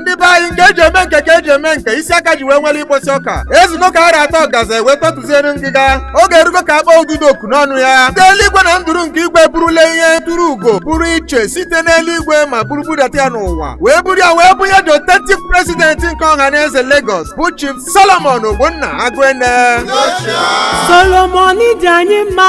ndị be anyị nke e ji eme nke ka e ji eme nke isi aka ji wee nwere ịkpọsi ọka ezugo ka ara atọ gaza wee tọtụziere ngịga oge erugo ka a kpọọ ududo oku n'ọnụ ya ndị eluigwe na nduru nke igwe burule ihe turu ugo pụrụ iche site n'eluigwe ma buru budata ya n'ụwa wee buru ya wee bunye the authentic president nke Ọhanaeze Lagos bụ Chief Solomon Ogbonna Agụene Solomon dị anyị mma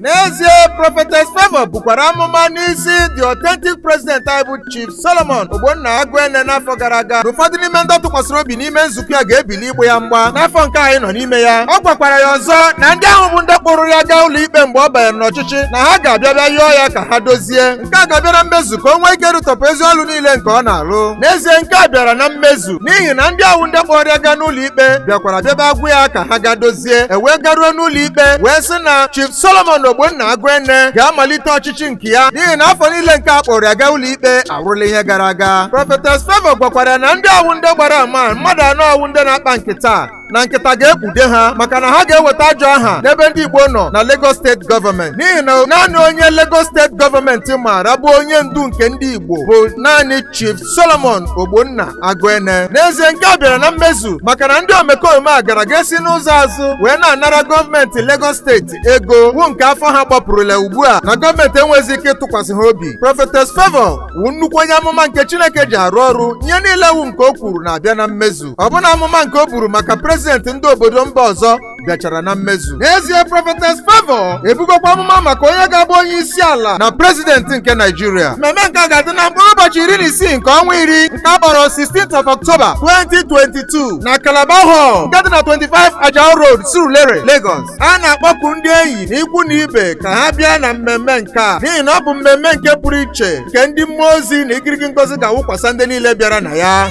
n'ezie Prophetess Favour bukwara amụma n'isi the authentic president anyị bụ Chief Solomon Ogbonna Agụene n'afọ gara aga na ụfọdụ n'ime ndị ọ tụkwasịrị obi n'ime nzukọ ya ga-ebili ịgba ya mgba n'afọ nke anyị nọ n'ime ya ọ gwakwara ya ọzọ na ndị ahụ bụ ndị kpụrụ ya gaa ụlọ ikpe mgbe ọ banyere n'ọchịchị na ha ga-abịa bịa yọọ ya ka ha dozie nke a ga-abịa na mmezu ka o nwee ike rụtọpụ ezi ọlụ niile nke ọ na-alụ n'ezie nke a bịara na mmezu n'ihi na ndị awụ ndị kpọrọ ya gaa n'ụlọ ikpe bịakwara bịaba agwụ ya ka ha ga dozie e wee garuo n'ụlọ ikpe wee sị na Chief Solomon Ogbonna Agụene ga-amalite ọchịchị nke ya n'ihi na afọ niile nke a kpọrọ ya gaa ụlọ ikpe awụrụla ihe gara aga Prophetess Favour gwakwara ya na ndị awụ ndị gbara ama mmadụ anọ awụ ndị na-akpa nkịta na nkịta ga-ekpude ha maka na ha ga-eweta ajọ aha n'ebe ndị Igbo nọ na Lagos State Government n'ihi na naanị onye Lagos State Government maara bụ onye ndu nke ndị Igbo bụ naanị Chief Solomon Ogbonna Agụene n'ezie nke a bịara na mmezu maka na ndị omekome a gara ga-esi n'ụzọ azụ wee na-anara gọọmenti Lagos steeti ego wụ nke afọ ha gbapụrụla ugbu a na gọọmenti enweghịzi ike ịtụkwasị ha obi Prophetess Favour wụ nnukwu onye amụma nke Chineke ji arụ ọrụ ihe niile wụ nke o kwuru na-abịa na mmezu ọbụna amụma nke o buru maka prezidenti ndị obodo mba ọzọ bịachara na mmezu n'ezie Prophetess Favour ebugokwa amụma maka onye ga-abụ onye isi ala na prezidenti nke Naịjirịa mmemme nke a ga-adị na mkpụrụ ụbọchị iri na isii nke ọnwa iri nke a kpọrọ 16th of October 2022 na Calabar Hall nke dị na 25 Ajao Road Surulere Lagos a na-akpọku ndị enyi na ikwu na ibe ka ha bịa na mmemme nke a n'ihi na ọ bụ mmemme nke pụrụ iche nke ndị mmụọ ozi na igirigi ngozi ga-awụkwasa ndị niile bịara na ya